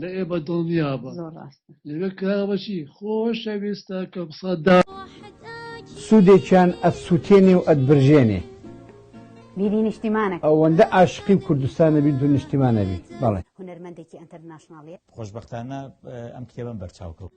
لە ئێ بە دڵنیابە لەوێ کراوەچی خۆشەویستە کەم سەدا. سودێکیان ئەت سوتێنێ و ئەت برژێنێ. بیبی نیشتیمانە ئەوەندە ئاشقی و کوردستانە بیت و نیشتیمانە بیت بەڵێ هونەرمەندێکی ئەنتەرناشناڵیە. خۆشبەختانە ئەم کتێبەم بەرچاو کەوت.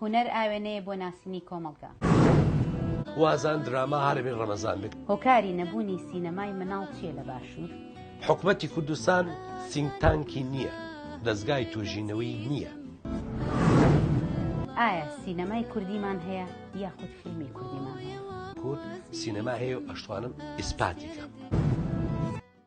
هونەر ئاوێنەیە بۆ ناسینی کۆمەڵگا. خوازان دراما هەرەبی ڕەمەزان بێت. هۆکاری نەبوونی سینەمای مناڵ چیە لە باشوور؟ حکومەتی کوردستان سینک تانکی نیە، دەزگای توێژینەوەی نیە. ئایا سینەمای کوردیمان هەیە یاخود فیلمی کوردیمان هەیە؟ کورد سینەما هەیە و ئەشتوانم ئیسپاتی کەم.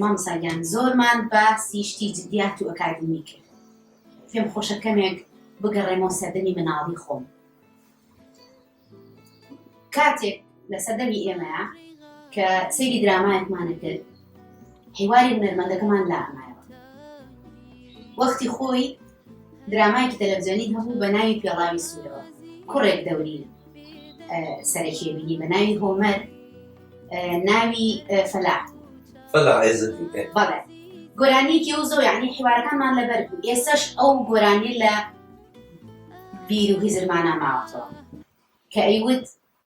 مامساگیان زۆرمان بە سیشتی جدیات و ئەکادمی کرد پێم خۆشە کەمێک بگەڕێمەوە سەردەمی مناڵی خۆم کاتێک لە سەردەمی ئێمەیە کە سەیری درامایەکمانە کرد هیواری نەرمەندەکەمان لامایەوە وەختی خۆی درامایەکی تەلەڤزیۆنی هەبوو بە ناوی پێڵاوی سوورەوە کوڕێک دەوری سەرەکی بینی بە ناوی هۆمەر ناوی فەلا فەلا بەڵێ گۆرانیکی و زۆر یعنی حیوارەکانمان لەبەر بوو ئێسش ئەو گۆرانی لە بیر و هیزرمانە ماوەتەوە کە ئەیوت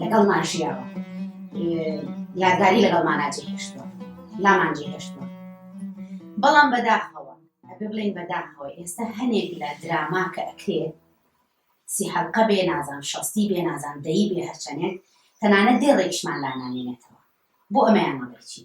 لەگەڵمان ژیاوە یادگاری لەگەڵمانە جێهێشتوە لامان جێهێشتوە بەڵام بەداخەوە ئەبێ بڵێن بەداخەوە ئێستا هەنێک لە دراما کە ئەکرێ سی حەلقە بێ نازان شەستی بێ نازان دەی بێ هەرچەنێک تەنانە دێ ڕێکشمان لانانێنێتەوە بۆ ئەمەیان مەڵێکی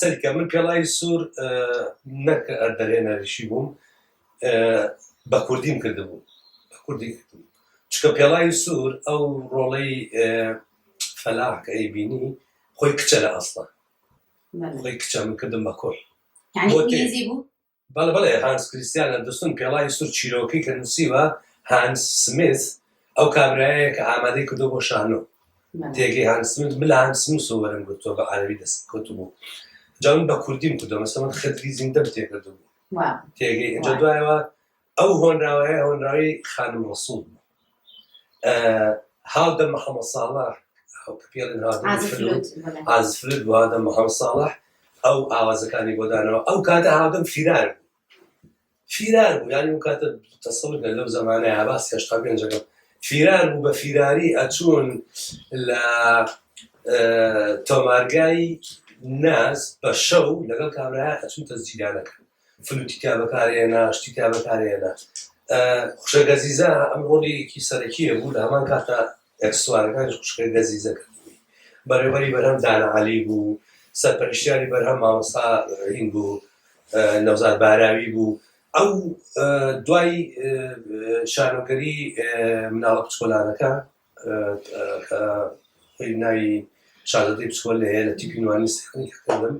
سەرکە من پێڵای سوور نەک دەرێنەریشی بووم بە کوردیم کردبوو کوردی چکە پێڵای سوور ئەو ڕۆڵەی فەلاحکە ئەی بینی خۆی کچە لە ئەستا خۆی کچە من کردم بە کۆی بەڵێ بەڵێ هانس کریستیان ئەندرسون پێڵاوی سور چیرۆکەی کە نوسیوە هانس سمیث ئەو کابرایەیە کە ئامادەی کردوە بۆ شانۆ تێگەی هانس سمیث من لە هانس سمسەوە وەرم گرتوە بە عەرەبی دەستم کەوتبوو جا من بە کوردیم کردوە مەسەڵەن خدری زیندەم تێکردبوو تێگەی ئینجا دوایەوە ئەو هۆنراوەیە هۆنراوەی خانم ڕەسوڵ بوو هاودەم محەمەد ساڵح کە پێڵێن هاودەم عازف فلوت فلوت بەڵێ عازف فلوت بوو هاودەم محەمەد ساڵح ئەو ئاوازەکانی بۆ دانەوە ئەو کاتە هاودەم فیرار بوو فیرار بوو یانی ئەو کاتە تەسەڵگە لەو زمانەیە باس هێشتا پێنجەکە فیرار بوو بە فیراری ئەچوون لە اه، تۆمارگای ناز بە شەو لەگەڵ کابرا ئەچوون تەزجیرانەکە فلوتی تیا بەکارهێنا شتی تیا بەکارهێنا خوشە گەزیزە ئەم ڕۆڵیکی سەرەکیە بوو لە هەمان کاتە ئەکسوارەکان خوشکە گەزیزە کردنی بەڕێوەری بەرهەم دانەعالی بوو سەرپەرشتیاری بەرهەم مامۆستا هین بوو نەوزار باراوی بوو ئەو دوای شارۆگەری مناڵە پچکۆلانەکە کە خۆی ناوی شازادەی بچکۆل هەیە لە تیپی نوانی سیخنی کردم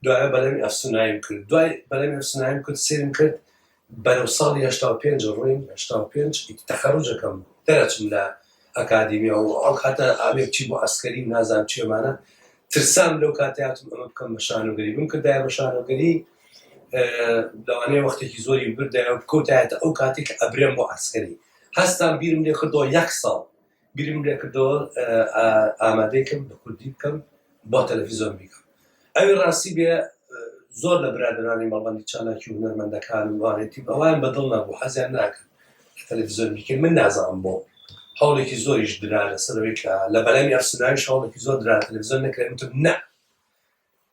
دوای بەلەمی ئەفسونایم کرد دوای بەلەمی ئەفسونایم کرد سێرم کرد بەرەو ساڵی هشتا و پێنج ڕوین هشتا و پێنج تەخەڕوجەکەم دەرەچم لە ئەکادیمی و ئەو کاتە ئاوێ چی بۆ ئەسکەری نازان چێمانە ترسام لەو کاتیاتم ئەمە بکەم بە شانۆگەری بم کردایە بە شانۆگەری لەوانەیە وەختێکی زۆری بردایە و بکەوتایەتە ئەو کاتێک ئەبرێم بۆ ئەسکەری هەستام بیرم لێ کردەوە یەک ساڵ بیرم لێ کردەوە ئامادەیکم بە کوردی بکەم بۆ تەلەفیزۆن بیکەم ئەوی ڕاستی بێ زۆر لە برادرانی مەڵبندی چالاکی و هونەرمەندەکان و وانێتی ئەوان بەدڵ نەبوو حەزیان ناکرد تەلەڤزیۆن بیکە من نازانم بۆ هەوڵێکی زۆریش درا لەسەرەوەی کە لە بەلامی ئەفسناویش هەوڵێکی زۆر درا تەلەڤزیۆن نەکرێت وتم نە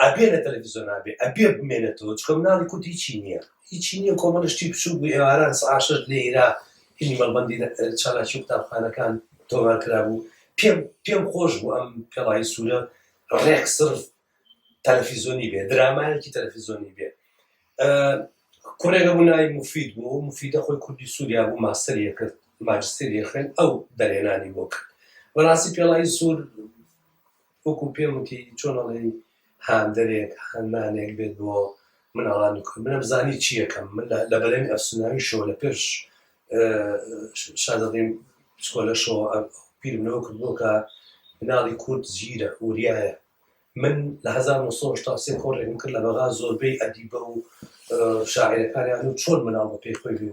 ئەبێ لە تەلەفیزۆنا بێ ئەبێ بمێنێتەوە چکە مناڵی کورد هیچی نییە هیچی نییە کۆمەڵە شتی بچوک بوو ئێواران سەعات شەش لە ئیرا فیلمی مەڵبەندی چالاکی قوتابخانەکان تۆمار کرابوو پێم پێم خۆش بوو ئەم پێڵاوی سوورە ڕێک سرف تەلەفیزۆنی بێ درامایەکی تەلەفیزۆنی بێ کوڕێگە بوو ناوی مفید بوو مفیدە خۆی کوردی سووریا بوو ماستەری کرد ماجستری خوێن ئەو دەرێنانی بۆ کرد بەڕاستی پێڵایی سوور وەکو پێم وتی چۆن ئەڵێی هاندەرێک، هانمانێک بێت بۆ مناڵانی کورد، منم زانی چی ئەکەم، من لە بەرەمی ئەفسوناوی شۆ لە پێش شازادەی پسکۆلە شۆ بیرم لەوە کردبوو کە مناڵی کورد ژیرە، وریایە، من لە هەزار و نۆ سەد و هەشتا و سێ کۆڕێکم کرد لە بەغا زۆربەی ئەدیبە و شاعیرەکانیان و چۆن مناڵ بە پێی خۆی بێ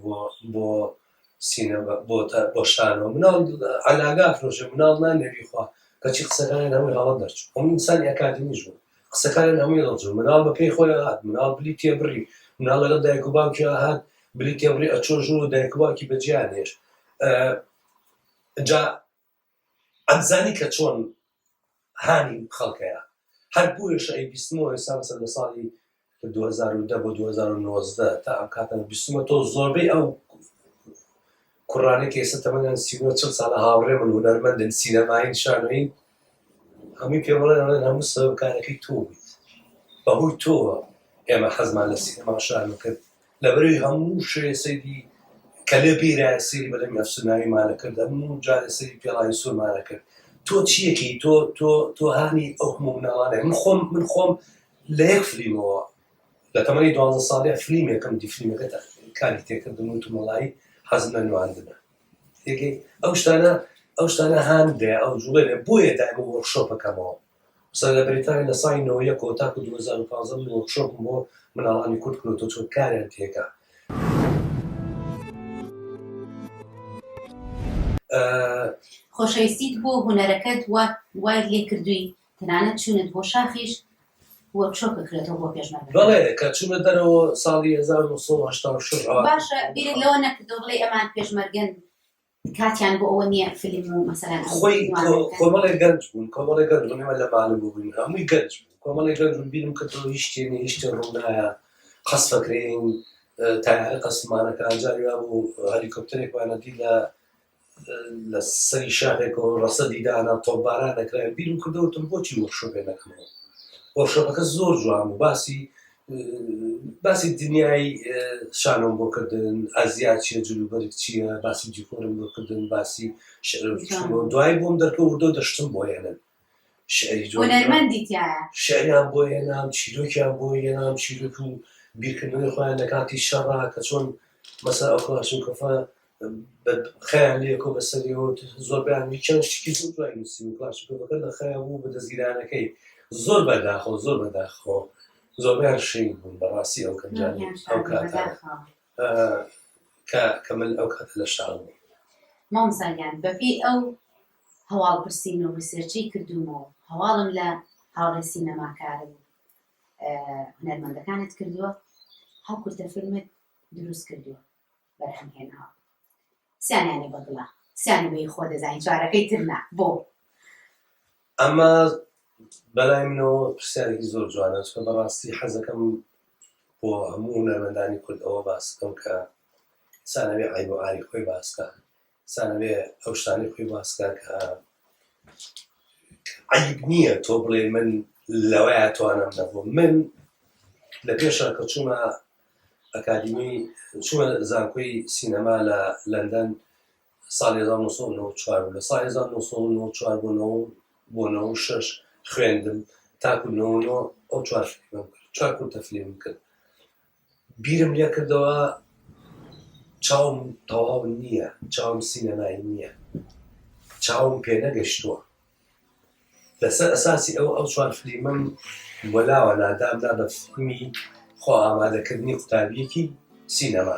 بۆ سینەما بۆتە بۆ شانۆ مناڵ عەلاگا ئەفرۆشێ مناڵ نا نەبی خوا کەچی قسەکانیان هەمووی هەڵە دەرچوو هەموو ئینسانی ئەکادیمیش بوو قسەکانیان هەمووی دەڵچوو مناڵ بە پێی خۆی هات مناڵ بلی تێبڕی مناڵ لەگەڵ دایک و باوکی هات بلی تێبڕی ئەچۆ ژوور و دایک و باوکی بەجیان هێشت جا ئەمزانی کە چۆن هانی خەڵکەیە هەر بۆیەش ئەی بیستمەوە ئێستا بەسەر لە ساڵی دوو هەزار و دە بۆ دوو هەزار و نۆزدە تا ئەم کاتە بیستمە تۆ زۆربەی ئەو کوڕانەی کە ئێستا تەمەنیان سی و نۆ چل ساڵە هاوڕێ من هونەرمەندن سینەمایین شانۆیین هەمووی پێ بڵێن ئەڵێن هەموو سەرۆکارەکەی تۆ بوویت بەهۆی تۆوە ئێمە حەزمان لە سینەما و شانۆ کرد لەبەروی هەموو شوێ سەیری کەلێ بیرایە سەیری بەلەمی ئەفسوناوی مانە کرد هەموو جارێ سەیری پێڵاوی سور مانە کرد تۆ چیەکی تۆ تۆ تۆ هانی ئەو هەموو مناڵانە من خۆم من خۆم لە یەک فلیمەوە لە تەمەنی دوازدە ساڵێ فلیمێکم دی فلیمەکەت کاری تێکردم و تمەڵایی حەزم لە نواندنە یەکێ ئەو شتانە ئەو شتانە هاندێ ئەو جوڵێ بۆیە دایمە وەرکشۆپەکەمەوە قسە لە بەریتانیا لە ساڵی نۆ یەک ەوە تاکو دوو هەزار و پازدە من وۆرکشۆپم بۆ مناڵانی کورد کردوە تۆ چۆن کاریان تێکا ئە. خۆشەویستیت بۆ هونەرەکەت وات وای لێ کردووی تەنانەت چوونت بۆ شاخیش وۆرکشۆپ بکرێتەوە بۆ پێشمەرگەکان. بەڵێ کە چوومە دەرەوە ساڵی هەزار و نۆ سەد و هەشتا و شەش ئەوە. باشە بیرت لەوە نەکردووە بڵێی ئەمان پێشمەرگەن کاتیان بۆ ئەوە نیە فلیم و مەسەلەن خۆی کۆمەڵێ گەنج بوون کۆمەڵێ گەنج بوون ئێمە لە مالم بووین هەمووی گەنج بوو کۆمەڵێ گەنج بوون بیرم کردەوە هیچ شتێ نیە هیچ شتێ ڕوونایە قەس فەکرەین تایارە قەسمانەکە جاری وا بوو هەلیکۆپتەرێک وانەدی لە لە سەری شاخێکەوە ڕەسە دیدانە تۆباران دەکراین بیرم کردەوەتم بۆچی وەخشۆ بێ نەکەمەوە وەخشۆەکە زۆر جوان و باسی باسی دنیای شانۆم بۆ کردن ئازیا چیە جلوبەرگ چییە باسی جیکۆرم بۆ کردن باسی دوای بۆم دەرکەوردۆ دەشتم بۆ هێنن شعریان بۆ هێنام چیرۆکیان بۆ هێنام چیرۆک و بیرکردنەوەی خۆیان لە کاتی شەڕا کە چۆن مەسا ئەوکەواشن کەفە خیان لێ کۆ بەسەریەوە زۆربیان چەند شتکی زۆر دوای نووسی و پلاسیکۆەکە لە خیا بوو بە دەستگیرانەکەی زۆر بەداخۆ زۆر بەداخۆ زۆربیان شین بوون بەڕاستی ئەو کەنجان ئەو کات کە من ئەو کات لە شار بوو مامزاگیان بەپی ئەو هەواڵ پرسین و ڕیسێرچەی کردومەوە هەواڵم لە هاوڕێ سینەماکارم هەرمەندەکانت کردووە هەڵکورتە فیلمت دروست کردووە بەرهەم هێناوە سیانیانی بە دڵە سیانی بەی خۆ دەزانی چارەکەی تر نا بۆ؟ ئەمە بەلای منەوە پرسیارێکی زۆر جوانە چکە بەڕاستی حەزەکەم بۆ هەموو هونەرمەندانی کورد ئەوە باسکەم کە سانەوی عیب و عاری خۆی باسکە سانەوێ ئەو شتانەی خۆی باسکە کە عیب نییە تۆ بڵێ من لەوەیە توانم نەبوو من لە پێشە کە چوومە ئەکادیمی چووە زانکۆی سینەما لە لەندەن ساڵی 1994 لە ساڵ 1994 بۆ بۆ 96 خوێندم تاکو ئەو چوار کورتە فلیم کرد بیرم لێکردەوە چاوم تەواو نییە چاوم سینەمایی نییە چاوم پێ نەگەشتووە لەسەر ئەساسی ئەو ئەو چوار فلیمم وەلاوە نادام دا بە فیلمی خۆ ئامادەکردنی قوتابیەکی سینەما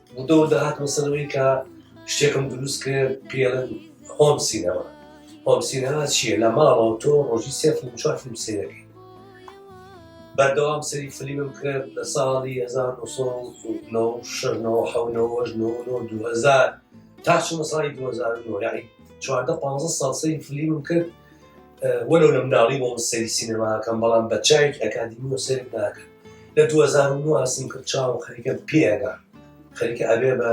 و دەور دەهاتمە سەر ئەوەی کە شتێکم دروست کرد پێڵن هۆم سینەما هۆم سینەما چییە لە ماڵەوە تۆ ڕۆژی سێ فیلم چوار فیلم سێرەکەی بەردەوام سەری فلیمم کرد لە ساڵی 1970 تا چمە ساڵی 2009 یعنی چواردە پ ساڵ سەری فلیمم کرد وەلو لە مناڵی بۆ سەری سینەماکەم بەڵام بە چایکی ئەکادمی و سەر ناکەن لە 2009 ئاسم کرد چاوم خەریکە پێگا خەریکە ئەبێ بە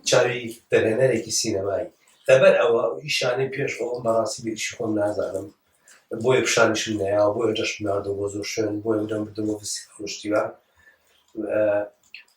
چاوی دەگەنەرێکی سینەمایی لەبەر ئەوە ئیشانەی پێش ئەوم بەڕاستی بێش خۆم نازانم بۆیە پیشانشم نیا بۆیە دەشمناردە بۆ زۆر شوێن بۆیە دەم بدەوە بسی خۆشتیوە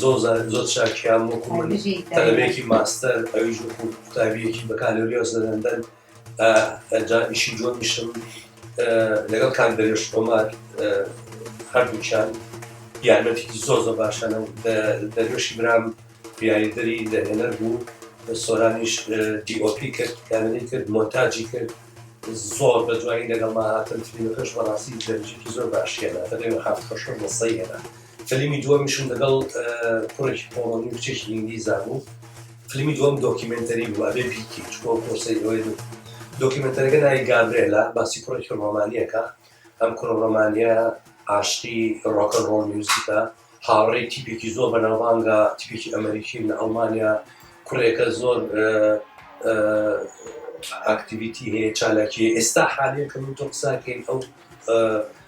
زۆر زانن زۆر چاکیان وەکو من تەلەبەیەکی ماستەر ئەویش وەکو قوتابیەکی بەکالۆریۆس لە لەندەن ئەجا ئیشی جۆنیشم لەگەڵ کاک دەرێش کۆمار هەردووچان یارمەتێکی زۆر زۆر باشانە دەرێشی برام بیاریدەری لە هێنەر بوو سۆرانیش دیۆپی کرد کارەی کرد مۆنتاجی کرد زۆر بە دوایی لەگەڵ ما هاتن ترینەکەش بەڕاستی دەرجێکی زۆر باشیێنە دەێ حافخۆشە بەسەیەنە فلیمی دووەمیشم لەگەڵ کوڕێکی پۆڵۆنی و کچێکی ئینگلیزا بوو فلیمی دووەم دۆکیمنتەری بوو ئەبێ بیکی چکۆ پۆسەی ئەوەی بوو دۆکیمنتەرەکە ناوی گابرێلا باسی کوڕێکی ڕۆمانیەکە ئەم کوڕە ڕۆمانیە عاشقی ڕۆکەن ڕۆڵ میوزیکە هاوڕێی تیپێکی زۆر بەناوبانگە تیپێکی ئەمریکی لە ئەڵمانیا کوڕێکە زۆر ئاکتیویتی هەیە چالاکی ئێستا حالەکە من تۆ قساکەین ئەو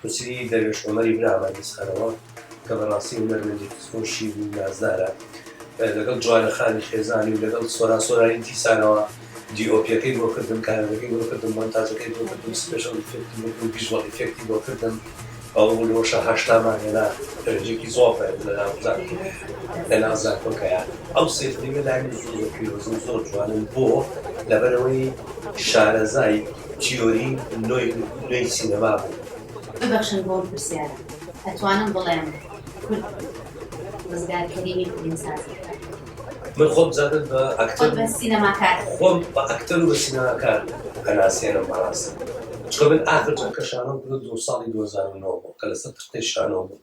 پرسی دەروێش عومەری برامان بسخەنەوە کە بەڕاستی هونەرمەندێکی خۆشی و نازدارە لەگەڵ جوانە خانی خێزانی و لەگەڵ سۆران سۆرانی دیسانەوە دیئۆپیەکەی بۆ کردم کارەکەی بۆ کردم مۆنتاجەکەی بۆ کردم سپێشڵ ئیفێکتی بۆ کردم ڤیژوەڵ ئیفێکتی بۆ کردم ئەو لۆشە هەشتامان هێنا درەنجێکی زۆر بەرز لە ناو زانکۆ لە ناو زانکۆکەیە ئەو سێ فلیمە لای من زۆر زۆر پیرۆزن زۆر جوانن بۆ لەبەرەوەی شارەزای تیۆری نوێی سینەما بوو. ببەخشن بۆم پرسیارە ئەتوانم بڵێم کورد ڕزگار کەریمی فیلمسازی کرد؟ من خۆم زادت بە ئەکتەر و سینەماکار خۆم بە ئەکتەر و بە سینەماکار ئەناسێنم بەڕاستی چونکە من ئاخر جەم کە شانۆم کرد دوو ساڵی دوو هەزار و نۆ بوو کە لەسەر تەختەی شانۆ بووم.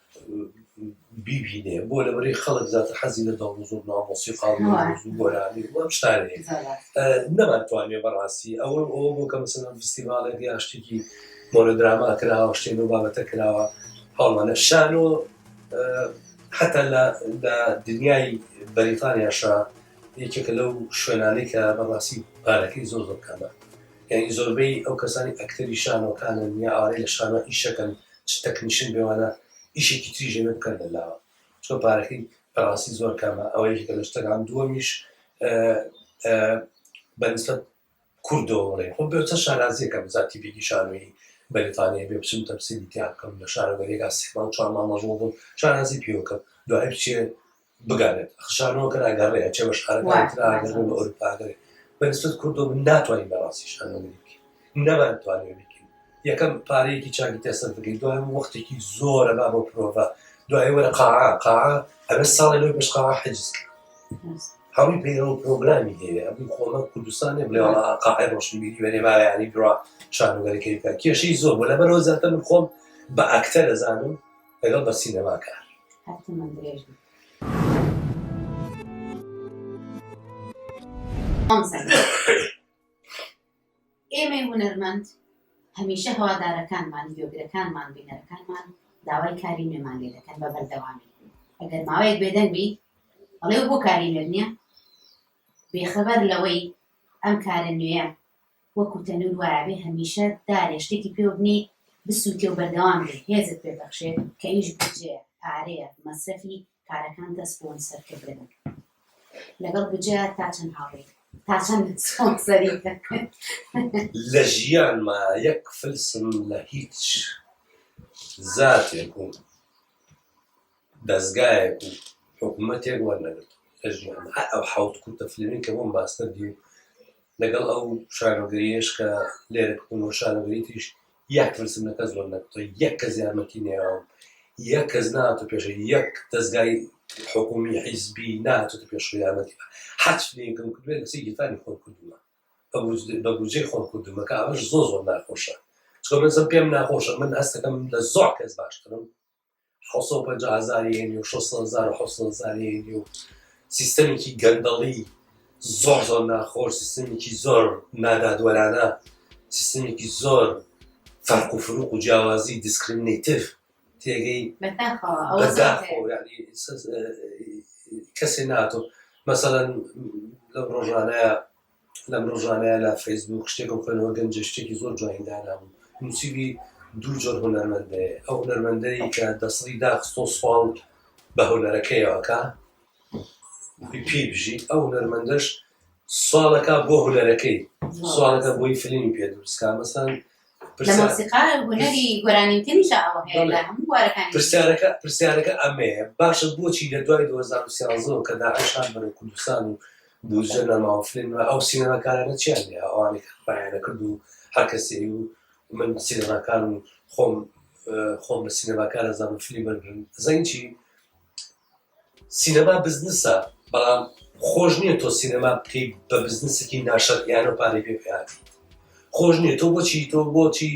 بیبینێ بۆ لەبەری خەڵک زیاتر حەزی لە دەڵ و زۆر نامۆسی خاڵ و ڕوز و گۆرانی و ئەم شتانە هەیە. نەمانتوانێ بەڕاستی ئەوە ئەوە بۆ کە مەسەلەن فستیڤاڵێک یا شتێکی مۆنۆدراما کراوە شتێ لەو بابەتە کراوە هەوڵانە شانۆ حتا لە لە دنیای بەریتانیاشە یەکێکە لەو شوێنانەی کە بەڕاستی پارەکەی زۆر زۆر کەمە یعنی زۆربەی ئەو کەسانی ئەکتەری شانۆکانن یا ئارەی لە شانۆ ئیشەکەن چ تەکنیشن بێ وانا ئیشێکی تری ژێنێ بکەن لە لاوە چۆ پارەکەی بەڕاستی زۆر کەمە ئەوە یەکێکە لە شتەکان هەم دووەمیش بە نسبەت کوردەوە بڵێ خۆ بێ چە شارازیەکە بزاتی بێگی شانوی بەریتانیا بێ بچم تەمسیلی تیا بکەم لە شارەگەریەکە سێ مانگ چوار مانگ مەشغوڵ بووم شانازی پێوە کەم دوای بچێ بگەرێت خشانەوە کەر ئەگەڕێ ئەچێ بە شارەکانی تر ئاگەڕێ بە ئەوروپا ئەگەرێ بە نسبەت کوردۆ من ناتوانین بەڕاستی شانەوەی بکەین نەمانتوانێ بکەین یەکەم پارەیەکی چاکی تێ سەرف بکەین دوای وەختێکی زۆرە با بۆ پرۆڤە دوای وەرە قاعە قاعە ئەبێ ساڵێ لەوەی پێش قاعە حجز کرد هەمووی پەیڕەو پرۆگرامی هەیە ئەبووی خۆمە کوردستانێ بڵێ وەڵا قاعی ڕۆشنبیری وێنێ ماوەیانی درا شانوگەرەکەی بکە کێشەی زۆر بۆ لەبەرەوە زیاتر من خۆم بە ئەکتەر دەزانم لەگەڵ بە سینەما کار. ئێمەی هونەرمەند هەمیشە هەوادارەکانمان گوێگرەکانمان بینەرەکانمان داوای کاری نوێمان لێ دەکەن بە بەردەوامی ئەگەر ماوەیەک بێدەنگ بی ئەڵێ بۆ کاری نوێ نییە بێخەبەر لەوەی ئەم کارە نوێە وەکو تەنور وایەبێ هەمیشە دارێ شتێکی پێوە بنێی بسوتێ و بەردەوام بێ هێزت پێ بەخشێ کە ئیش بودجەیە پارەیە مەسرەفی کارەکانتە سپۆنسەر کردن لەگەڵ بودجەیە تا چەند هاوڕێی تا چەند سپۆنسەری لە ژیانما یەک فلسم لە هیچ زاتێک و دەزگایەک و حکومەتێک وەرنەگرت لە ژیانم هەر ئەو حەوت کورتە فیلمەی کە بۆم باستردی و لەگەڵ ئەو شانۆگەریەش کە لێرە کردم و شانۆگەری تریش یەک فلسم لە کەس وەرنەگرتەوە یەک کەس یارمەتی نەیاوم یەک کەس ناتو پێشە یەک دەزگای حکومی حیزبی ناتو پێش یارمەتی هەر فیلمێکم کردوێت لەسەر گیرفانی خۆم کردووە بە بودجەی خۆم کردومە کە ئەمەش زۆر زۆر ناخۆشە چکە من زم پێم ناخۆشە من هەستەکەم لە زۆر کەس باشترم حەوت سەد و پەنجا هەزاری هەینی و شەش سەد هەزار و حەوت سەد هەزاری هەینی و سیستەمێکی گەندەڵی زۆر زۆر ناخۆر سیستەمێکی زۆر نادادوەرانە سیستەمێکی زۆر فەرق و فروق و جیاوازی دیسکرمنیتیف تێگەی بەداخەوە ئەوە بەداخۆ زیاتر. یعنی سەس- اه، کەسێ ناتۆ مەسەەن لەم ڕۆژانەیە لەم ڕۆژانەیا لە فەیسبووک شتێکم خوێنەوە گەنجێ شتێکی زۆر جوانی دانابوو نووسیوی دوو جۆر هونەرمەندەیە ئەو هونەرمەندەی کە دەسڵی داخستۆ سوپاو بە هونەرەکەیەوەکە پێی بژیت ئەو هونەرمەندەش سوالەکە بۆ هونەرەکەی سوالەکە بۆی فلمی پێ دروستکە مەسەن پرسیارەکە پرسیارەکە ئەمەیە باشە بۆچی لە دوای 2013 کە داعشان بەرە کوردستان و بودجە نەماوە فلم ئەو سینەماکارانە چیان لێ ئەوانێک خپایانە کرد و هەرکەسی و من سینەماکان و خۆم خۆم بە سینەماکارە زانم فلی بەرگن زەنگی سینەما بزنسە بەڵام خۆش نیە تۆ سینەما بکەی بە بزنسێکی ناشەرعیانەو پارەی پێ بهاتیت خۆش نیە تۆ بۆچی تۆ بۆچی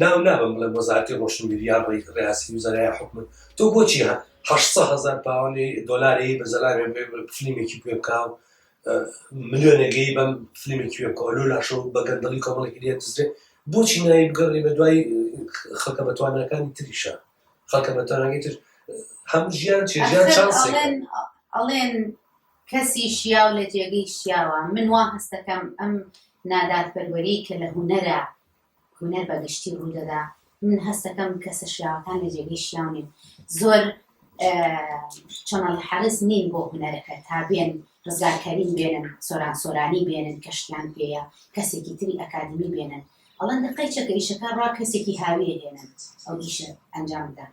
ناو نابەم بڵێم وەزارەتی ڕۆشنبیری یا ڕیاسی وزەرای حکومت تۆ بۆچی هە هەشت سە هەزار پاوەنی دۆلاری بە زەلامێ فلیمێکی پێ بکاو ملیۆنێگەی بەم فلیمێکی پێ بکەوە لۆ لاشەو بە گەندەڵی کۆمەڵێکی لێ دزرێ بۆچی ناوی بگەڕێ بە دوای خەکە بەتوانەکانی تریشە خەڵکە بە تەنگی تر هەم ژیان چێ ژیان چانسێک ئەڵێن کەسی شیاو لە جێگەی شیاوە من وا هەستەکەم ئەم نادادپەروەری کە لە هوەرە هوەر بەگشتی ڕوودەدا من هەستەکەم کەسە شیاوەکان لە جێگەی شیاونین زۆر چەنەڵ حەرز نین بۆ هوەرەکە تا بێن ڕزاکەریم بێنن سۆران سۆرانی بێنن کەشتیان پێەیە کەسێکی تری ئەکادمی بێنن ئەڵێن دەقەی چەکە ئیشەکە ڕا کەسێکی هاویە هێنەت ئەو ئیشە ئەنجام بدات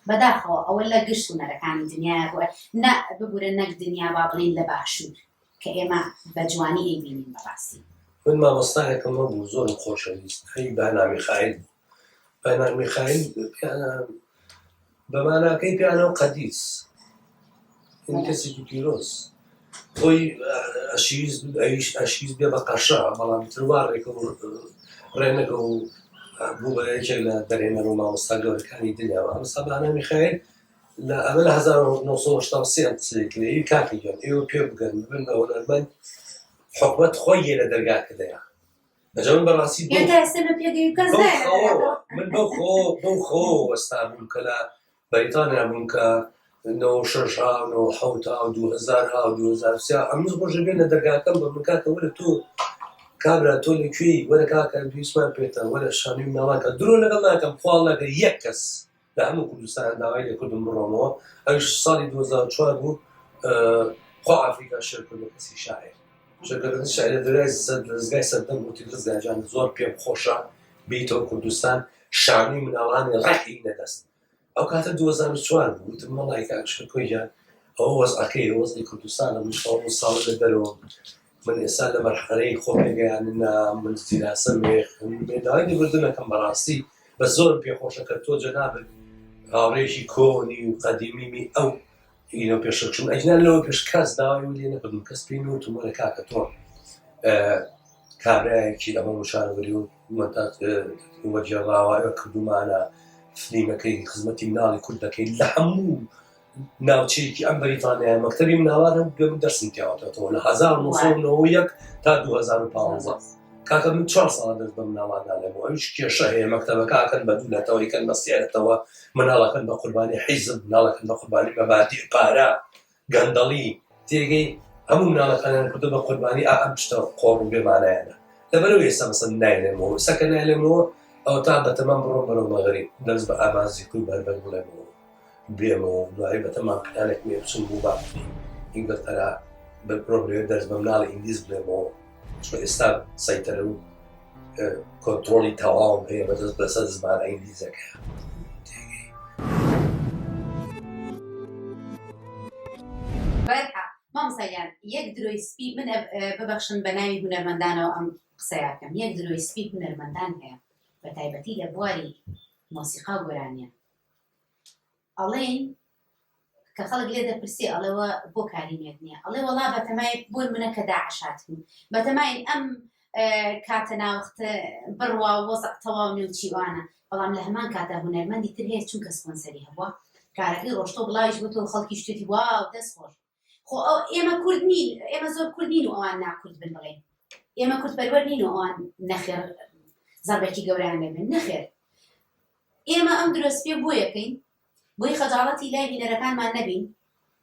بەداخەوە ئەوە لە گشت هونەرەکانی دنیاە بووە نە ببورە نەک دنیا با بڵین لە باشوور کە ئێمە بە جوانی ئەیبینین بەڕاستی من مامۆستایەکەم بوو زۆر خۆشەویست هەی بەنامی خایل بەنامی خایل بە ماناکەی پیانەو قەدیس یعنی کەسێکی پیرۆز خۆی ئەشیز ئەویش ئەشیز بێ بە قەشە بەڵام تروار ڕێکە و ڕێنەکە و بوو بە یەکێک لە دەرێنەر و مامۆستا گەورەکانی دنیاوە ئەم سەبانە میخایل لە ئەمە لە 1970 کاکی گەم ئێوە پێ بگەن بن بە هۆنەرمەند حکومت خۆی یە لە دەرگاکە دەیە بەجەمن بەڕاستی بەو یان تا ئێستا من پێگەی کەس بەو نایە لە خەوەوە عێراق من بەو خۆ بەو خەوەوە وەستابووم کە لە بەریتانیا بووم کە نۆ شەش ها و نۆ حەوت ها و دوو هەزار ها و دوو هەزار و سیا ئەمس ڕۆژێ بێن لە دەرگاکەم بە من کاکە وەرە تۆ کابرا تۆ لە کوێی وەرە کاکە دویسمان پێتە وەرە شانوی مناڵان کە درۆ لەگەڵ ناکەم خوا لەگە یەک کەس لە هەموو کوردستان داوای لێکردم بڕۆمەوە ئەوش ساڵی 2004 بوو خۆ ئافریکا شێرکردە کەسی شاعر شەکردنی شاعر دەرای سەد دەستگای سەردەم وتی ڕزگاجان زۆر پێم خۆشە بیتەوە کوردستان شانوی مناڵانی ڕەحی نەدەست ئەو کاتە 2004 بوو وتم مەڵایکە شکۆیان ئەو وەزعەکەی وەزی کوردستانە من ساڵ ساڵ لە دەرەوە من ئێستا لە مەرحەلەی خۆ پێگەیاندنە من فیراسە مێخن بێ داوای لێبوردن ئەکەم بەڕاستی بە زۆرم پێخۆشە کە تۆ جەنابت هاوڕێیەکی کۆنی و قەدیمیمی ئەو ئینە پێشە چون ئەجنا لەوە پێش کەس داوای و لێ نەکردم کەس پێی نوتم وەرە کاکە تۆ کابراایەکی ئەمە وشارەوەری و مەتات وەجێڕاوایە کردومانە فلیمەکەی خزمەتی مناڵی کورد دەکەین لە هەموو ناوچەیەکی ئەم بەریتانیایە مەکتەبی مناڵان هەم دوێ من دەرسم پیاوەتەوە لە 1990 تا 2015 کاکە من چوار ساڵ دەست بە مناڵاندا لەبوو ئەوش کێشە هەیە مەکتەبەکەکەن بە دوو لەتەوە یکەن بە سێرەتەوە مناڵەکەن بە قوربانی حیزب مناڵەکەن بە قوربانی مەبادی پارە گەندەڵی تێگەی هەموو مناڵەکانیان کردو بە قوربانی ئا ئەم شتە قۆڕ و بێمانایانە لەبەرەوە ئێستا مەسەن نایلێمەوە سەکە نایلێمەوە ئەو تا بەتەمام بڕۆ بەرەو مەغری دەست بە ئامانزی کوی بەربەر بڵێمەوە بێمەوە و دوایی بە تەمام پلانێک مێ بچم بو باخچەی هیبەت ئەرا بەر پرۆ بلێر دەرس بە مناڵی ئینگلیز بلێمەوە چوە ئێستا سەیتەرە و کۆنترۆڵی تەواوم هەیە بە دەست بەسە زمانە ئینگلیزەکە بەرحە مامسەیان یەک درۆی سپی من ببەخشن بە ناوی هونەرمەندانەوە ئەم قسەیەکەم یەک درۆی سپی هونەرمەندان هەیە بە تایبەتی لە بواری مۆسیقا و گۆرانیان ئەڵێن کە خەڵک لێ دەپرسێ ئەڵێوە بۆ کاری نوێت نییە ئەڵێ وەڵا بەتەمای بۆ منە کە داعشات بوو بەتەمای ئەم کاتە ناوەخت بڕوا وەزع تەواو نێو چیوانە بەڵام لە هەمان کاتە هوەرمەندی تر هەیە چونکە سپۆنسەری هەبووە کارەکەی ڕۆشتۆ بڵاویش بۆ تۆ خەڵکی شتێتی وا دەست خۆش خۆ ئێمە کورد نین ئێمە زۆر کورد نین و ئەوان ناکورد بن بڵێ ئێمە کورد پەروەر نین و ئەوان نەخێر زەربەکی گەوران لێبن نەخێر ئێمە ئەم درۆست پێ بۆیەکەین بۆی خەجاڵەتی لای بینەرەکانمان نەبین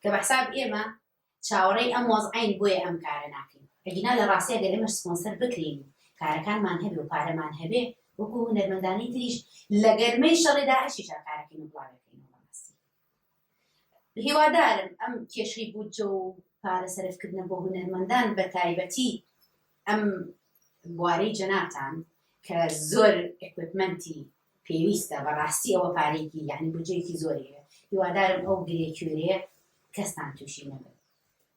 کە بەحساب ئێمە چاوەڕێی ئەم وەزعین بۆیە ئەم کارە ناکەین ئەگینا لە ڕاستە گەر ئێمە سپۆنسەر بکرین کارەکانمان هەبێ و پارەمان هەبێ وەکو هونەرمەندانی تریش لە گەرمەی شەڕێدا ئەشی شاکارەکەین و بڵاوەکەین هیوادارم ئەم کێشەی بودجە و پارە سەرفکردنە بۆ هونەرمەندان بە تایبەتی ئەم بوارەی جەنابتان کە زۆر ئێکوپمەنتی پێویستە بەڕاستی ئەوە پارێکی یعنی بودجەیەکی زۆری هەیە هیوادارم ئەو گرێ کوێرەیە کەستان تووشی نەبن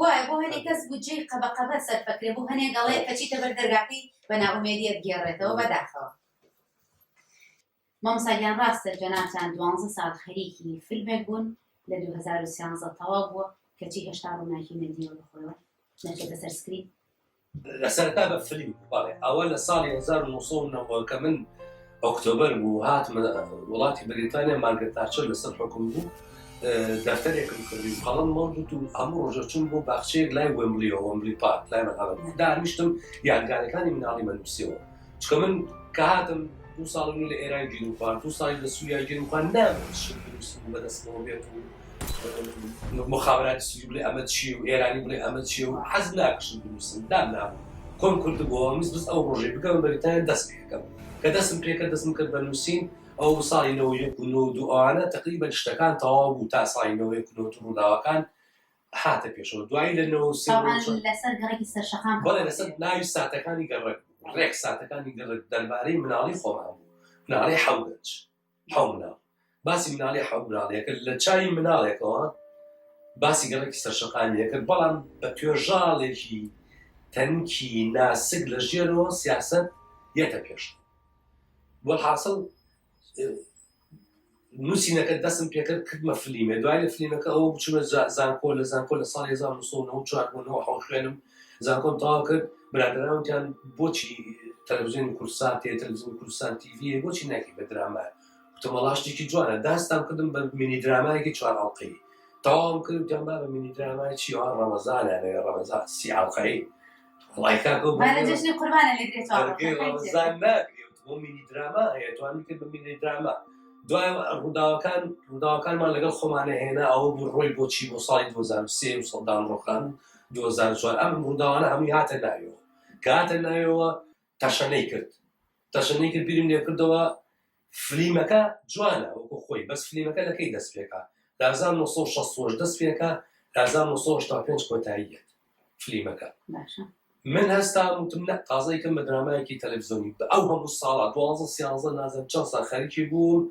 وایە بۆ هەنێ کەس بودجەی قەبە قەبە سەرفەکرێ بۆ هەنێ گەڵێ کە چیتە بەر دەرگاکەی بە نائومێدیت گێڕێتەوە بەداخەوە مامساگیان ڕاستە جەناتان دوانزە ساڵ خەریکی فیلمێک بوون لە 2013 تەواو بووە کەچی هێشتا ڕووناکی نەدیوە بەخۆەوە نەچێتە سەرسکری لەسەرتا بە فلی بەڵێ ئەوە لە ساڵی 1990 کە من ئۆکتۆبر بوو هاتمە وڵاتی بریتانیا مارگە تاچە لەسەر حکوم بوو دەفتەرێکم کردی و قەڵم مەوجود و هەموو ڕۆژە چون بۆ باخچەیەک لای ومبلی و ومبلی پارک لای مەقام دانیشتم یادگارەکانی مناڵی مەنووسەوە چکە من کە هاتم دو ساڵ من لە ئێران گیر و خوارد دو ساڵی لە سووریا گیر و خوارد نامەوێت شت دروست بوو بەدەستمەوە بێت و مخابراتی سووری بڵێ ئەمە چی و ئێرانی بڵێ ئەمە چی و حەز ناکشم دروستم دام نابوو کۆم کرد بۆ مز بز ئەو ڕۆژەی بگەم بەریتانیا دەست پێکەم کە دەستم پێکە دەستم کرد بە نووسین ئەو ساڵی نەوە یەک و نۆ دووانە تقریبا شتەکان تەواو بوو تا ساڵی نەوە یەک و نۆ ڕووداوەکان هاتە پێشەوە دوایی لە نەوە لەسەر گەڕێکی سەرشەقام بەڵێ لەسەر ناوی ساتەکانی گەڕێک ڕێک ساتەکانی گەڕێک دەربارەی مناڵی خۆمان بوو مناڵی حەوگەنج حەو مناڵ باسی مناڵی حەو مناڵێکە لە چای مناڵێکەوە باسی گەڕێکی سەرشەقانیەکە بەڵام بە توێژاڵێکی تەنکی ناسک لە ژێرەوە سیاست یەتە پێش وەحاصل نووسینەکە دەستم پێکرد کردمە فلیمێ دوای لە فلیمەکە ئەو بچمە زانکۆ لە زانکۆ لە ساڵ 1994 خوێنم زانکۆم تەواو کرد برادراوتیان بۆچی تەلەڤزیۆن کوردستان تێ تەلەڤزیۆن کوردستان تیڤە بۆچی ناکی بە درامە وتەمەڵاشتێکی جوانە داستان کردم بە مینی درامایەکی چوارڵقەی تەواوم کرد جەمبا بە مینی درامای چیوان ڕەمەزانە لە ڕەمەزان سیاقەی وڵای کاکە و مانە بەرگێ جەژنی قوربانە لێ گرێ چاوەڕۆ بەرگێ خەفەی تێ ڕەمەزان ناگرێ بۆ مینی دراما هەیە توانن کرد بە مینی دراما دوای ڕووداوەکان ڕووداوەکانمان لەگەڵ خۆمانە هێنا ئەوە بوو ڕۆی بۆچی بۆ ساڵی 2023 و سەدام ڕۆخان و 2004 ئەم ڕووداوانە هەمووی هاتە ناویەوە کە هاتە ناویەوە تەشەنەی کرد تەشەنەی کرد بیرم لێ کردەوە فلیمەکە جوانە وەکو خۆی بەس فلیمەکە لە کەی دەست پێکا لە 1960 دەست پێکا لە 1965 کۆتاییەت فلیمەکە باشە من هەستا وتم نە تازە یکەم بە درامایەکی تەلەڤزیۆنی بە ئەو هەموو ساڵە 12 سیانزە نازم چەند سا خەریکی بووم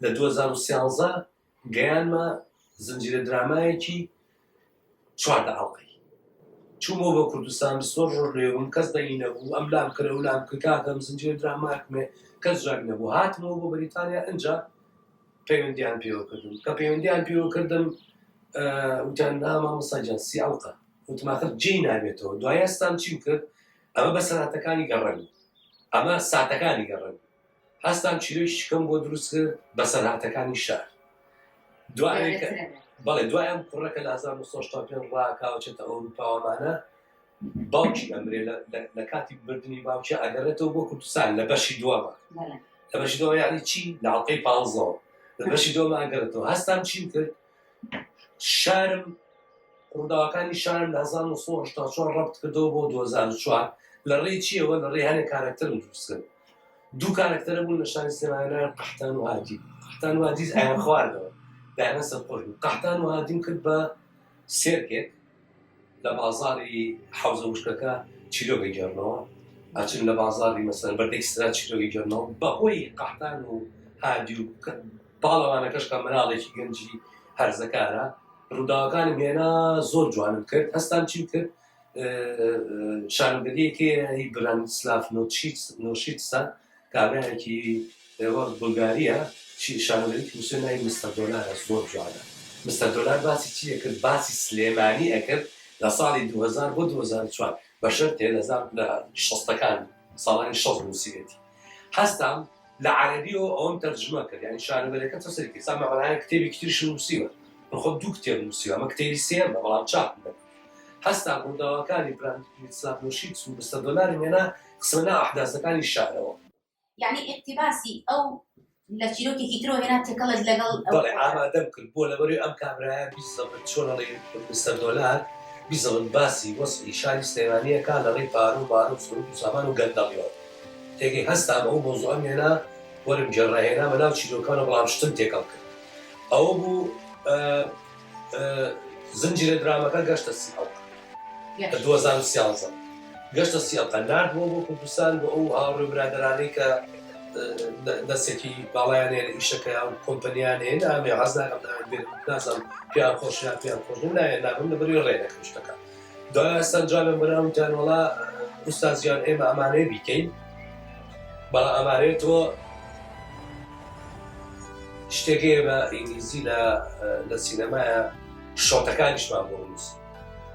لە 2013 گەیانمە زنجیرە درامایەکی چواردە ئەڵقەی چوومەوە بە کوردستان سۆ ڕۆژ لێبووم کەس دەنگی نەبوو ئەم لام کرە و لام کاکەم زنجیرە دراماکمێ کەس جاک نەبوو هاتمەوە بۆ بەریتانیا ئەجا پەیوەندیان پێوە کردم کە پەیوەندیان پێوە کردم وتیان ناما مساجان سی ئەڵقە وتماخر جێ نابێتەوە دوایەستان چیم کرد ئەمە بە سەراتەکانی گەڕێن ئەمە ساتەکانی گەڕێن هەستام چیرۆی شکم بۆ دروست کرد بەسەرهاتەکانی شار دوای بەڵێ دوایان کوڕە کە لە 1970 ڕاکاوچێتە ئەوروپاوامانە باوکی ئەمرێ لە کاتی بردننی باوکی ئەگەڕێتەوە بۆ کوردستان لە بەشی دووەمە لە بەشی دووە یانی چی لاڵقەی پازەوە لە بەشی دووەمە ئەگەرێتەوە هەستان چیم کرد شارم ڕووداوەکانی شارم لە 1970 ڕبت کردەوە بۆ 2004 لە ڕێی چیەوە لە ڕێهانە کارەکتەرم دروستکرد دوو کارەکتەرە بوون لە شاری سلێمانە قەحتان و هادی قەحتان و هادیز ئایان خواردەوە دایان سەرخۆش بوو قەحتان و هادیم کرد بە سێرکێک لە بازاری حوزە وشکەکە چیرۆگە گەڕنەوە ئاچن لە بازاری مەسەر بەردەی سرا چیرۆگی گەڕنەوە بەهۆی قەحتان و هادی و باڵەوانەکەش کە مناڵێکی گەنجی هەرزەکارە ڕووداوەکانم هێنا زۆر جوانم کرد هەستان چی کرد شانۆگەریەکی هی برانیسلاف نۆشیتسە کابرایەکی ئێوە بولگاریە شانۆگەری موسێ ناوی مستە دۆلارە زۆر جوانە مستە دۆلار باسی چی ئەکرد باسی سلێمانی ئەکرد لە ساڵی 2000 بۆ 2004 بە شەرتێ لە زار لە شەستەکان ساڵانی شەست نووسیوێتی هەستام لە عەربیەوە ئەوم تەرجمە کرد یعنی شانۆگەرەکە تۆ سەرکی سامەڕایە کتێبی کتریش نووسیوە بەخۆ دوو کتێب نووسیوە ئەمە کتێبی سێمە بەڵام چاپ نەکرد هەستا ڕووداوەکانی براند پیت سلاتموشیت و مستەر دۆلارم هێنا خستمە ناو ئەحداسەکانی شارەوە. یەعنی ئیقتیباسی ئەو لە چیرۆکێکی ترەوە هێنا تێکەڵێت لەگەڵ. بەڵێ ئامادەم کرد بۆ لەبەروی ئەم کابرایە بیزەبت چۆن ئەڵێی مستەر دۆلار بیزەبت باسی وەزعی شاری سلێمانی ئەکا لە ڕێی پارە و بارە و سروت و سامان و گەندەڵیەوە تێگەی هەستام ئەو مەوزوعەم هێنا وەرم گێڕا هێنامە ناو چیرۆکانەوە بەڵام شتم تێکەڵ کرد ئەوە بوو زنجیرە درامەکە گەشتە سی ئەڵقە لە دوو هەزار و سیانزە گەشتە سی ئەڵقە ناردووە بۆ کوردستان بۆ ئەو هاوڕێ و برادەرانەی کە دەستێکی باڵایان هەیە لە ئیشەکەیان و کۆمپەنیان هەیە نامێ حەز ناکەم ناویان بێنم نازانم پێیان خۆش یان پێیان خۆش نیم ناویان نابەم لەبەر وی ڕێ نەکەم شتەکە دایە جانم برام گیان وەڵا ئوستاز گیان ئێمە ئەمانەوێ بیکەین بەڵام ئەمانەوێ تۆ شتێک هەیە بە ئینگلیزی لە لە سینەمایە شۆتەکانیشمان بۆ نووس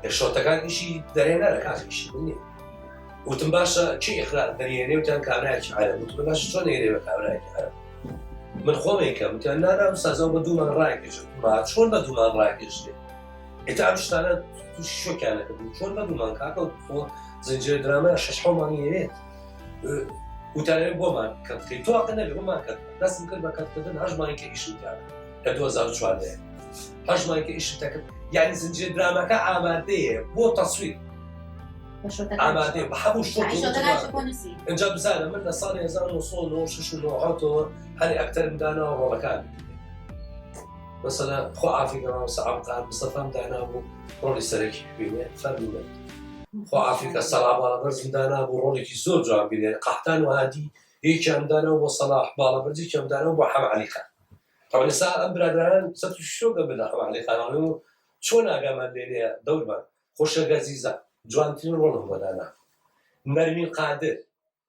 لە شۆتەکانیشی دەرێنەرە کاکیشی نیە وتم باشە چی ئخراار دەریێنێ وتیان کابراایکی عە وتم باش چۆن نێرێ بە کابراایکی عە من خۆمێکە وتیان نانا سازەوە بە دوومان ڕاکێش چۆن بە دوومان ڕاکێشێ ئێتا ئەم شتانە تووشی شۆکیان نەکردبوو چۆن نەبوومان کاکە خۆ زنجیرە درامای شەش حەومانی ئەوێت وتارێ بۆمان کە بکەیت تۆ واقع نەبێ بۆمان کە دەستم کرد بە کەتکردن هەژمانی کە ئیشم کرد لە 2014 هەژمانی کە ئیشم تەکرد یعنی زنجیرە درامەکە ئامادەیە بۆ تەسویر ئامادەێ بە هەموو شتۆ ئەجا بزانە من لە ساڵی 1996 هەر ئەکتەرمدانەوە ڕۆڵەکان مەسەلە خۆ عافی گەڕاو سەعام قار مستەفام دانابوو ڕۆڵی سەرەکی ببینێ فەرمونە خۆ عافیکە سەڵا باڵەبەرزم دانابوو ڕۆڵێکی زۆر جوان بینێ قەحتان و هادی یەکیان دانا و بۆ سەڵاح باڵەبەرزی کەم دانا و بۆ حەم عەلی خان تەوانسا ئەم برادران سەر شۆگە بدا حەم عەلی خان چۆن ئاگامان لێنێ دەورمان خۆشە گەزیزە جوانترین ڕۆڵم بۆ دانا نەرمین قادر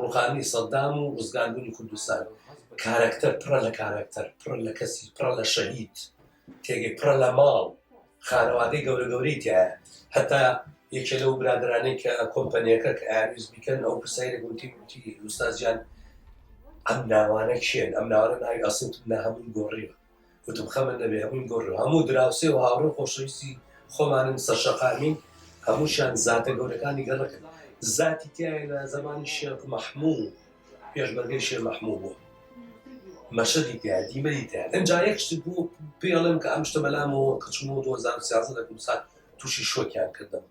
ڕوخانی سەدام و ڕزگاربوونی کوردستان کارەکتەر پڕە لە کارەکتەر پڕە لە کەسی پڕە لە شەهید تێگەی پڕە لە ماڵ خانەوادەی گەورە گەورەی تایە هەتا یەکێ لەو برادرانەی کە کۆمپەنیەکە کە ئاویز بیکەن ئەو پرسیارە گوتی گوتی ئوستازیان ئەم ناوانە کێن ئەم ناوانە ناوی ئەسڵ نە هەمووی گۆڕیوە وتم خەمت نەبێ هەمووی گۆڕیوە هەموو دراوسێ و هاوڕێ و خۆشەویستی خۆمانن سەرشەقامین هەمووشیان زاتە گەورەکانی گەڕەکن زاتی تایە لە زەمانی شێخ مەحموو پێشمەرگەی شێ مەحموو بوو مەشەدی تیا دیمەری تیا ئەجا یەک شت بوو پێڵم کە ئەم شتە بەلامەوە کچم و 2013 لە کوردستان تووشی شۆکیان کردم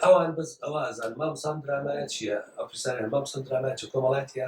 ئەوان بەس ئەوە ئازان مامسان درامایە چییە ئەفرسان مامسان درامایە چ کۆمەڵاتە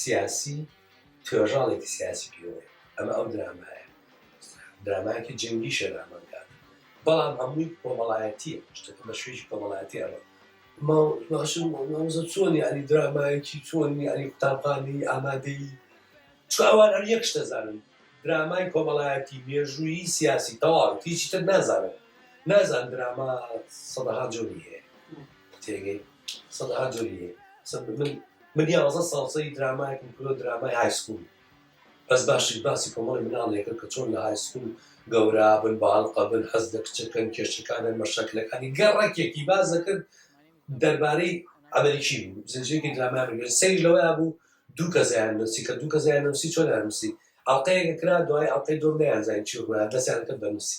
سیاسی توێژاڵێکی سیاسی پێوەیە ئەمە ئەو درامایە درامایەکی جەنگی شەرامەکان بەڵام هەمووی کۆمەڵایەتیە شتەکە بە شوێژی کۆمەڵایەتی ئەمە چۆنی ئەلی درامایەکی چۆنی ئەلی قوتابخانەی ئامادەی چاوان هەر یەک شتەزانن درامای کۆمەڵایەتی مێژووی سیاسی تەواو هیچی تر نازانن نازان دراما سەدەها جۆری هەیە تێگەی سەد ها جۆری هەیە سەد من من یازە ساڵسەی درامایەکم کرۆ درامای های سکول بەس باشی باسی کۆمەڵی مناڵێکە کە چۆن لە های سکول گەورا بن باڵقە بن حەز لە کچەکەن کێشەکانیان مەشەکلەکانی گەڕەکێکی بازەکرد دەربارەی ئەمریکی بوو زنجێکی درامای سەیر لەوەیا بوو دوو کەزیان نووسی کە دوو کەزیان نووسی چۆن نووسی ئەڵلقەیەکە کرا دوای ئەڵلقەی دۆم نیان زانین چی ڕویان دەستیان کرد بە نووسی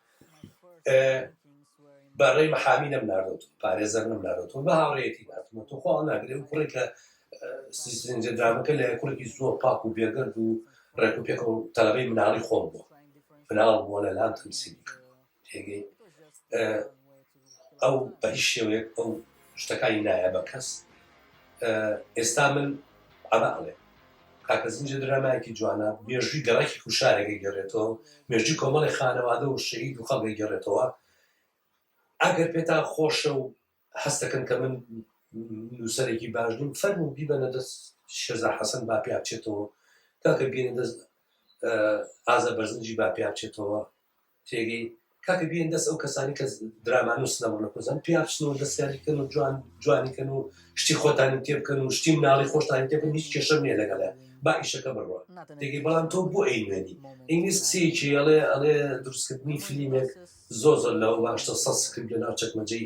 بەڕێی محامی نەم ناردۆت پارێزەر نەم ناردۆت بە هاوڕێتی ناتمە تو خۆ ناگرێ و کوڕێک لە سیسنجدرامەکە لە کوڕێکی زۆر پاک و بێگەرد و ڕێک و پێکە و تەلەبەی مناڵی خۆم بووە فناڵ بووە لە لام تەمسیلی تێگەی ئەو بە هیچ شێوەیەک ئەو شتەکانی نایە بە کەس ئێستا من ئەمە ئەڵێ کاکە زنجە درامایەکی جوانە مێژوی گەڕێکی کوشارێکە گەڕێتەوە مێژوی کۆمەڵی خانەوادە و شەید و خەڵگە گەڕێتەوە ئەگەر پێتان خۆشە و هەستەکەن کە من نووسەرێکی باش نیم فەرم و بیبەنە دەست شێزا حەسەن با پێ بچێتەوە کاکە بینە دەست ئازە بەرزنجی با پێ بچێتەوە تێگەی کاکە بیێن دەست ئەو کەسانی کە درامانە و سنەما نەکۆزان پیا بچن و دەستیانی کەن و جوان جوانی کەن و شتی خۆتانی تێ بکەن و شتی مناڵی خۆشتانی تێ بن هیچ کێشە نیە لەگەڵە با ئیشەکە بڕوە تێگەی بەڵام تۆ بۆ ئەی نوێنی ئینگلیس قسەیەکی ئەڵێ ئەڵێ دروستکردنی فلیمێک زۆر زۆر لەوە باشتە سە سکرپت لە ناو چەکمەجەی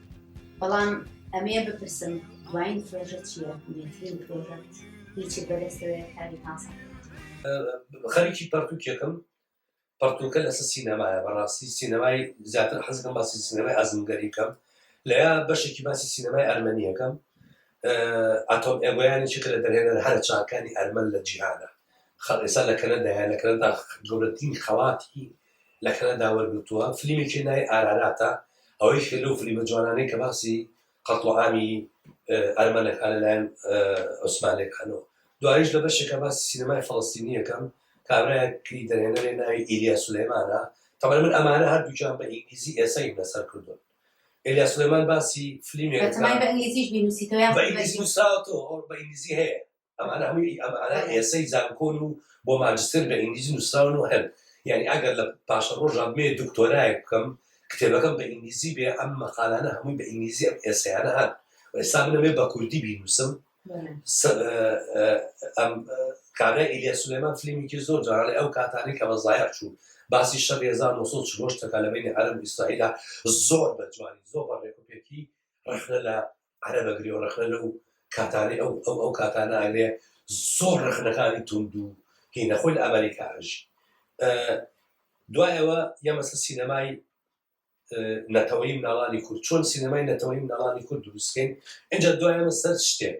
بەڵام ئەمێ بپرسم دوایین پرۆژە چییە نوێترین پرۆژە هیچی بەدەستەوەی کاری تازە خەریکی پەرتوکێکم پەرتوکە لەسەر سینەمایە بەڕاستی سینەمای زیاتر حەزەکەم باسی سینەمای ئازمگەری بکەم لە یا بەشێکی باسی سینەمای ئەرمەنیەکەم ئاتۆم ئێگویانی چکە لە دەرهێنەر هەرە چاکانی ئەرمەن لە جیهانە خەڵ ئێسا لە کەنەدایە لە کەنەدا گەورەترین خەڵاتی لە کەنەدا وەرگرتووە، فلیمێکی ناوی ئاراراتە، ئەوە یەکێکە لەو فلیمە جوانانەی کە باسی قەتڵوعامی ئەرمەن ئەکا لە لایەن عوسمانەکانەوە، دواییش لە بەشێکا باسی سینەمای فەڵەستینی ئەکەم، کابرایەکی دەرهێنەرێ ناوی ئیلیا سولەیمانە، تەبعەن من ئەمانە هەردووکیان بە ئینگلیزی ئێسەیم لەسەر کردوون، ئیلیا سولەیمان باسی فلیمێک ئەکا. بەتەمای بە ئینگلیزیش بینووسیتەوە یاخود بە ئینگلیزی؟ بە ئینگلیزی نووسراوەتەوە، بە ئینگلیزی هەیە. ئەمانە هەمووی ئەمانە ئێسەی زانکۆن و بۆ ماجستر بە ئینگلیزی نووسراون و هەن یعنی ئەگەر لە پاشە ڕۆژان بێ دکتۆرایەک بکەم کتێبەکەم بە ئینگلیزی بێ ئەم مەقالانە هەمووی بە ئینگلیزی ئەم ئێسەیانە هەن ئێستا بنەمێ بە کوردی بینوسم ئەم کارە ئیلیا سلێمان فلیمێکی زۆر جارڵێ ئەو کاتانی کە بەزایە چوو باسی شە 1940 تەکە لە بینی عرب ئیسرائیلە زۆر بە جوانی زۆر بە ڕێکوپێکی ڕخنە لە عەرەب ئەگرێ و ڕەخنە لەو کاتانەی ئەو ئەو ئەو کاتانە ئەگرێ زۆر ڕەخنەکانی توند و هینە خۆی لە ئەمەریکا ئەژی دوای ئەوە یەمەسە سینەمای نەتەوەی مناڵانی کورد چۆن سینەمای نەتەوەی مناڵانی کورد دروستکەین اینجا دوایەمە سەر شتێک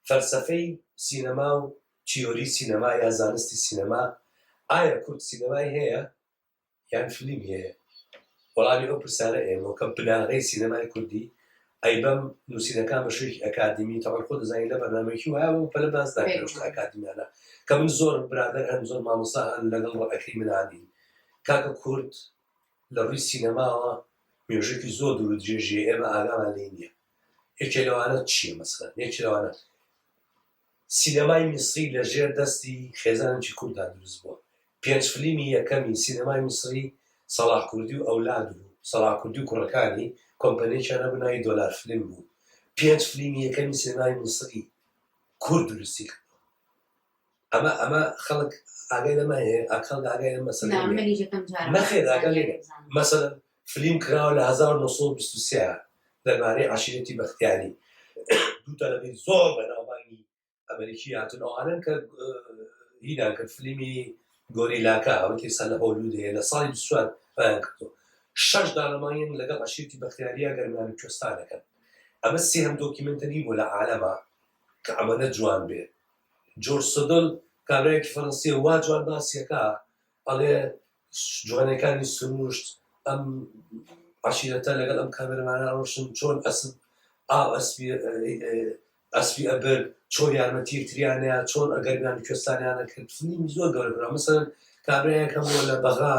فەلسفەی سینەما و تیۆری سینەما یا زانستی سینەما ئایا کورد سینەمای هەیە یان فلیمی هەیە؟ وەڵامی ئەو پرسانە ئێمەو کە بناغەی سینەمای کوردی ئەیبەم نوسینەکان بە شوێکی ئەکادیمی تەوان خۆ دەزانی لە بەرنامەکی وایە بەو پەلە باس ناکرێ لە شتە ئەکادیمیانە کە من زۆر برادەر هەن زۆر مامۆسا هەن لەگەڵ ڕەئەکەی منانی کاکە کورد لە ڕووی سینەماوە مێژێکی زۆر دوور درێژیە ئێمە ئاگامان لێ نییە یەکێ لەوانە چییە مەسەن یەکێ لەوانە سینەمای میسری لە ژێر دەستی خێزانێکی کورددا دروست بووە. پێنج فلیمی یەکەمی سینەمای میسری سەڵاح کوردی و ئەولاد بوو. سەڵاح کوردی و کوڕەکانی کۆمپەنیەکیان هەبوو ناوی دۆلار فلیم بوو. پێنج فلیمی یەکەمی سینەمای میسری کورد دروستی کردووە. ئەمە ئەمە خەڵک ئاگای لەمە هەیە؟ ئاک خەڵک ئاگای لەم مەسەلە نییە؟ نەخێر ئاگای لێ نیە. مەسەلەن فلیم کراوە لە هەزار و نۆ سەد و بیست و سێ دەربارەی عەشیرەتی بەختیاری دوو تەلەبەی زۆر بەناوبانگی ئەمریکی هاتن ئەوانن کە هیدان کرد فلیمی گۆریلاکە ئەوەتی سەر لە هۆلود هەیە لە ساڵی دوسوار پایان کردو شەش دانەمانیان لەگەڵ عەشیرتی بەختیاریا گەرمیان کوێستان دەکەن ئەمە سێهم دۆکیمنتەری بۆ لە عالەما کە ئەمەە جوان بێ جۆر سدل کابراایکی فەرەنسیە وا جوان باسیەکە ئەڵێ جوانێکانی سرووشت ئەم عەشیرەتە لەگەڵ ئەم کامێرەمانە ڕۆشن چۆن ئەسپ ئاو ئەسپی ئەسپی ئەبر چۆن یارمەتی یەکتریانەیە چۆن ئەگەرمیان کوێستانیانە کرد فیلمی زۆر گەورە مثلا کابرایەک هەبووە لە بەغا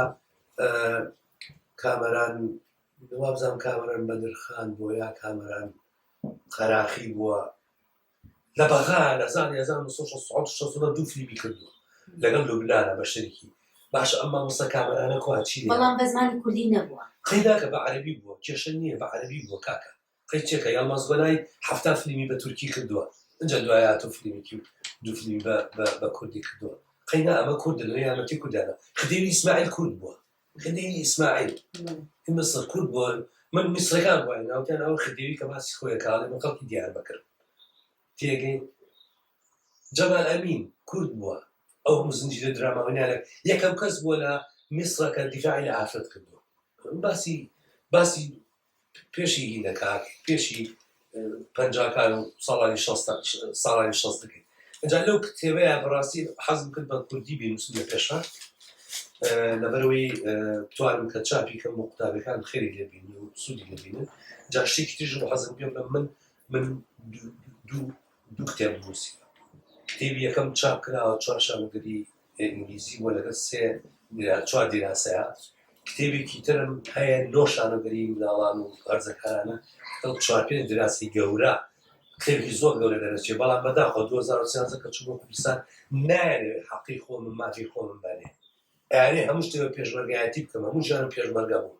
کامەران وابزانم کامەران بەدرخان بۆ یا کامەران قەراخی بووە لە بەغا لە هەزار هەزار و نۆ سەد و شەست و حەوت و شەست و نۆ دوو فلیمی کردووە لەگەڵ لوبنانە بە شەریکی باشە ئەم مامۆستا کامەرانە کوا چی لێیان بەڵام بە زمانی کوردی نەبووە قەی ناکە بە عەرەبی بووە کێشە نییە بە عەرەبی بووە کاکە قەی چێکە یەڵماز گۆنای حەفتا فلیمی بە تورکی کردووە ئەجا دوای هاتوو فلیمێکی و دوو فلیمی بە بە بە کوردی کردووە قەی نا ئەمە کوردن لە یارمەتی کوردیانە خدیوی ئیسماعیل کورد بووە خدیوی ئیسماعیل ی میسر کورد بووە، من میسرەکان بۆ ناوتیان ئەو خدیوی کە باسی خۆیە کە ئەڵێ من خەڵکی دیاربەکرم تێگەی جەمال ئەمین کورد بووە ئەو هەموو زنجیرە دراماوەنیانە یەکەم کەس بووە لە میسرەکە دیفاعی لە ئافرەت کردووە باسی باسی پێشی هی دەکات پێشی پەنجاکان و ساڵانی ساڵانی شەست دەکەیت ئەجا لەو کتێبەیە بەڕاستی حەزم کرد بە کوردی بینوسم لە پێشە لەبەرەوەی توانم کە چاپی کەم و قوتابەکان خێری لێبین و سوودی لەبینن جا شتێکی تیژ بە حەزم پێ بڵم من من دوو کتێب نووسی کتێبی یەکەم چاپ کراوە چوارشانگەری ئینگلیزی بووە لەگەڵ سێ یان چوار دیراسەیە کتێبێکی ترم هەیە لۆ شانەدەری مناڵان و هەرزەکارانە ئەو چوار پێ دراسی گەورە کتێبی زۆر گەورە دەرەچێ بەڵام بەداخۆ 2013 کە چوو بۆ کوردستان نایەنێ حەقی خۆم مافی خۆم بەرێ ئەیانێ هەموو شتێ پێشمەرگایەتی بکەم هەموو ژیانم پێشمەرگە بوو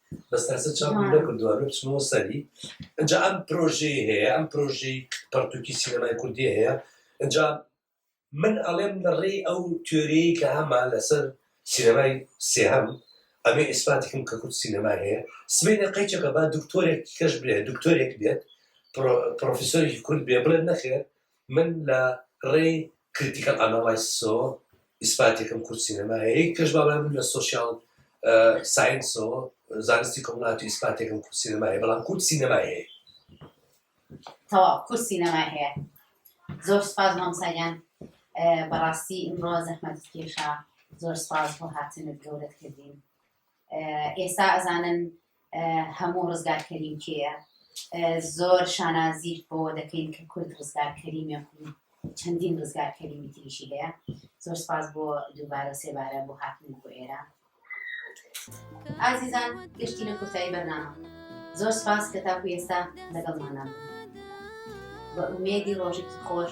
بەس تاسە چاوم نەکردووە ئەمە بچمەوە سەری ئەجا ئەم پرۆژەی هەیە ئەم پرۆژەی پەرتوکی سینەمای کوردی هەیە ئەجا من ئەڵێم لە ڕێی ئەو تێۆریی کە هەمان لەسەر سینەمای سێهەم ئەمێ ئیسپاتیکم کە کورد سینەما هەیە سمێنە قەیچەکە با دکتۆرێک کەش بێ دکتۆرێک بێت پرۆفیسۆری کورد بێ بڵێ نەخێت من لە ڕێی کریتیکەڵ ئاناڵایسسەوە ئیسپاتێکم کورد سینەمایە یەک کەش باڵای من لە سۆشیاڵ ساینسەوە زانستی کۆمەڵاتی ئیسپاتێکم کورد سینەمایە بەڵام کورد سینەمای هەیە تەواو کورد سینەمای هەیە زۆر سپاس مامساگیان بەڕاستی ئمڕۆ زەحمەت کێشا زۆر سپاس بۆ هاتنت گەورەت کردین ئێستا ئەزانن هەموو ڕزگار کەریم کێیە زۆر شانازی بۆەوە دەکەین کە کورد ڕزگار کەریمە چەندین ڕزگار کەریمی تریشی هەیە زۆر سپاس بۆ دووبارە سێبارە بۆ هاتن بۆ ئێرە ئازیزان گەشتینە کۆتایی بەرنامە زۆر سپاس کە تاکو ئێستا لەگەڵمانان بە ئومێدی ڕۆژێکی خۆش